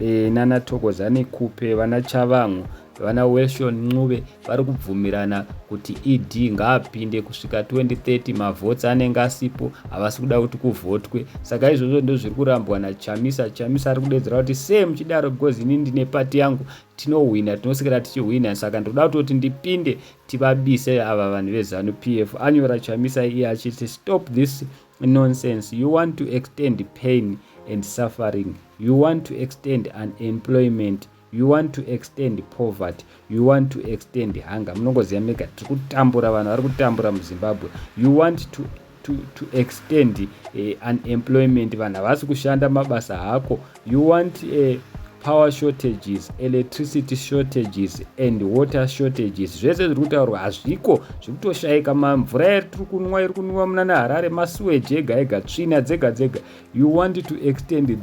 e, nana thokozani kupe vana chavangu vana welshon ncube vari kubvumirana kuti ed ngaapinde kusvika 2030 mavhots anenge asipo havasi kuda kuti kuvhotwe saka izvozvo ndo zviri kurambwa nachamisa chamisa ari kudedzera kuti se muchidaro because ini ndine pati yangu tinohwina tinosikira tichihwina saka ndinoda kutoti ndipinde tivabise ava vanhu vezanu p f anyora chamisa iye achiti stop this Nonsense, you want to extend pain and suffering, you want to extend unemployment, you want to extend poverty, you want to extend hunger. Munongoziva mega tiri kutambura vanhu vari kutambura muZimbabwe. You want to to, to extend uh, unemployment vanhu havasi kushanda mabasa hako You want a power shortages electricity shortages and water shortages zvese zviri kutaurwa hazviko zvikutoshayika mamvura yari tiri kunwa iri kunwiwa muna neharare masuweji ega ega tsvina dzega dzega you want to extend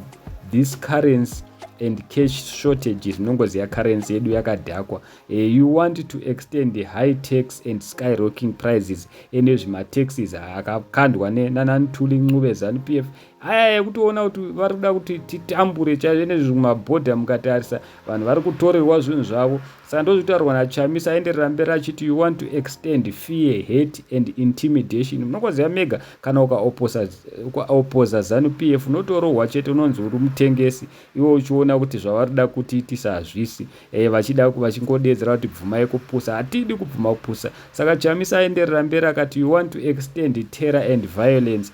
this currency and cash shortages nongoziva currency yedu yakadhakwa uh, you want to extend the high tax and skyrocking prices ene zvimataxes akakandwa nanantuli ncube zanupf aya yekutoona kuti vari kuda kuti titambure chaizvo nezviri kumabhodha mukatarisa vanhu vari kutorerwa zvinhu zvavo saka ndozvitaurwa nachamisa aenderera mberi achiti you want to extend fear hate and intimidation munokoziva mega kana ukaopoza zanu p f unotorohwa chete unonzi uri mutengesi iwe uchiona kuti zvavari kuda kutiitisa hazvisi e, vachida vachingodeedzera kuti bvumai kupusa hatidi kubvuma kupusa saka chamisa aenderera mberi akati you want to extend terror and violence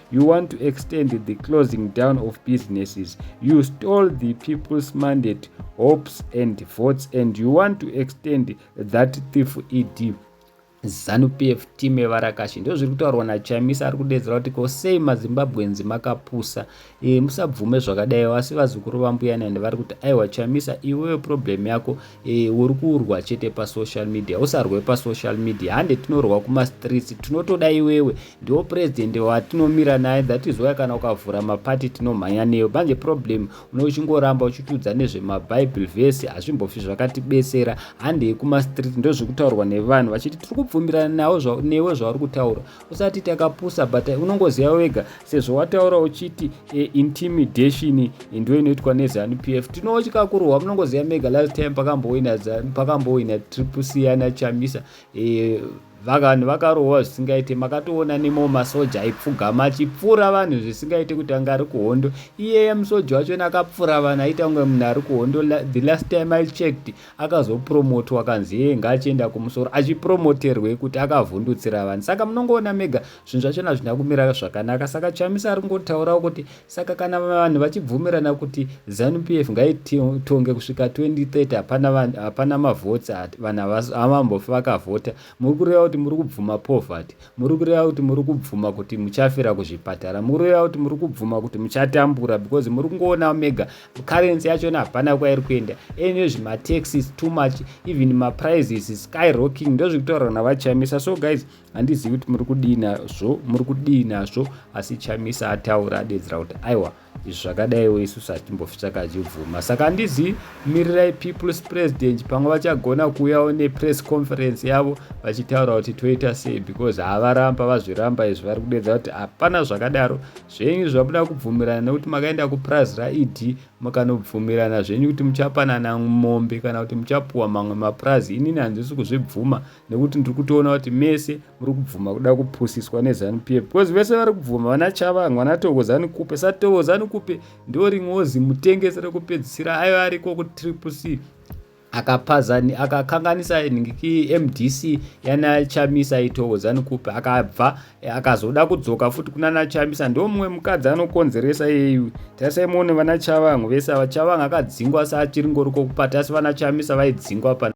you want to extend the closing down of businesses you stole the people's mandate hopes and votes and you want to extend that thief ed zanupf team evarakashi ndo zviri kutaurwa nachamisa ari kudedzera kuti ko sei mazimbabwenzi makapusa e, musabvume zvakadai vasi vazukuru vambuyani and vari kuti aiwa chamisa iwewe problem yako e, uri kurwa chete pasocial media usarwe pasocial media hande tinorwa kumastreets tinotoda iwewe Ndiwo president watinomira naye that is why kana ukavhura maparty tinomhanya neyo manje problem une uchingoramba uchitiudza nezvemabible verse hazvimbofi zvakatibesera handei kumastreet ndozvikutaurwa nevanhu vachiti tiri kubvumirana nawo newe zvauri kutaura usati takapusa but unongoziva wega sezvo wataura uchiti e, intimidation ndo inoitwa nezanup f tinotya kurohwa munongoziva mega last time pakambowina pakambowina triple c ana chamisa e, Vaganhu vakarohwa zvisingaite makatoona nemawo masoja aipfugama achipfura vanhu zvisingaite kuti anga ari kuhondo iyeye musoja wachona akapfura vanhu aita kunge munhu ari kuhondo the last time I checked akazopromotwa akanzi yeye ngaachienda kumusoro achipromoterwei kuti akavhundutsira vanhu saka munongoona mega zvinhu zvachona zvina kumira zvakanaka saka chamisa ari kungotaurawo kuti Saka kana vanhu vachibvumirana kuti Zanu PF ngaitonge kusvika 2030 hapana hapana mavotes vanhu havambofi vakavhota muri kureva kuti muri kubvuma poverty muri kureva kuti muri kubvuma kuti muchafira kuzvipatara muri kureva kuti muri kubvuma kuti muchatambura because muri kungoona mega currency yachona hapana kwairi kuenda ene zvimataxis too much even maprices skyrocking ndozviri kutaurwa navachamisa so guys handizivi kuti muri kudii nazvo muri kudii nazvo asi chamisa ataura adedzera kuti aiwa izvi zvakadaiwo isusu hatimbofi takazvibvuma saka handizivi mirirai peoples president pamwe vachagona kuuyawo nepress conference yavo vachitaura kuti toita sei because havaramba vazviramba izvi vari kudedzera kuti hapana zvakadaro zvenyu zvamuda kubvumirana nekuti makaenda kupurazi raed mukanobvumirana zvenyu kuti muchapanana mombe kana kuti muchapuwa mamwe mapurazi inini handisi kuzvibvuma nekuti ndiri kutoona kuti mese muri kubvuma kuda kupusiswa nezanu pf because vese vari kubvuma vana chavanga vana tokozanu kupe sa tokozanu kupe ndo rimwewo zimutengesi rekupedzisira aiva ariko kutriple c akapazani akakanganisa nhingiki mdc yana chamisa itowo zanikupi akabva akazoda kudzoka futi kuna na chamisa ndo mumwe mukadzi anokonzeresa yeyu tarisai muone vana chavangu vese ava chavangu akadzingwa sa achiri ngori kokupata asi vana chamisa vaidzingwa pa